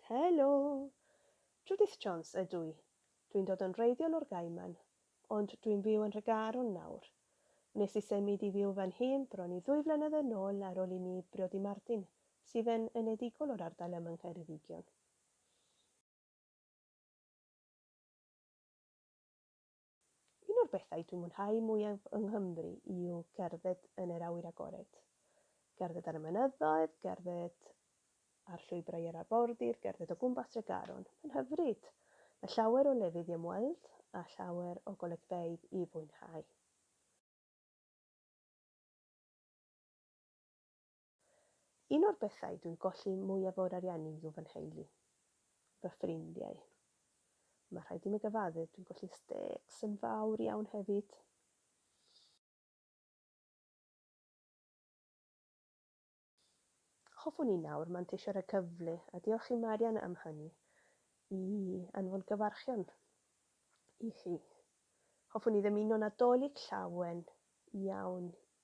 Helo! Judith Jones ydw i. Dwi'n dod yn wreiddiol o'r Gaiman, ond dwi'n byw yn Nhregaron nawr. Wnes i symud i fyw fan hyn bron i ddwy flynedd yn ôl ar ôl i mi briodi Martin, sydd yn enedigol o'r ardal yma yng Ngheredigion. Un o'r bethau dwi'n mwynhau mwyaf yng Nghymru yw cerdded yn yr awyr agored. Cerdded ar y mynyddoedd, cerdded ar llwybrau yr arfordir, cerdded o gwmpas Tregaron. Mae'n hyfryd! Mae llawer o lefydd i ymweld a llawer o golygfeydd i fwynhau. Un o'r bethau dwi'n golli mwyaf o'r ariannu yw fy nheulu. Fy ffrindiau. Mae rhaid i mi gyfaddef, dwi'n golli stecs yn fawr iawn hefyd. Hoffwn i nawr manteisio ar y cyfle, a diolch i Marian am hynny, i anfon gyfarchion i chi. Hoffwn i ddymuno Nadolig llawen iawn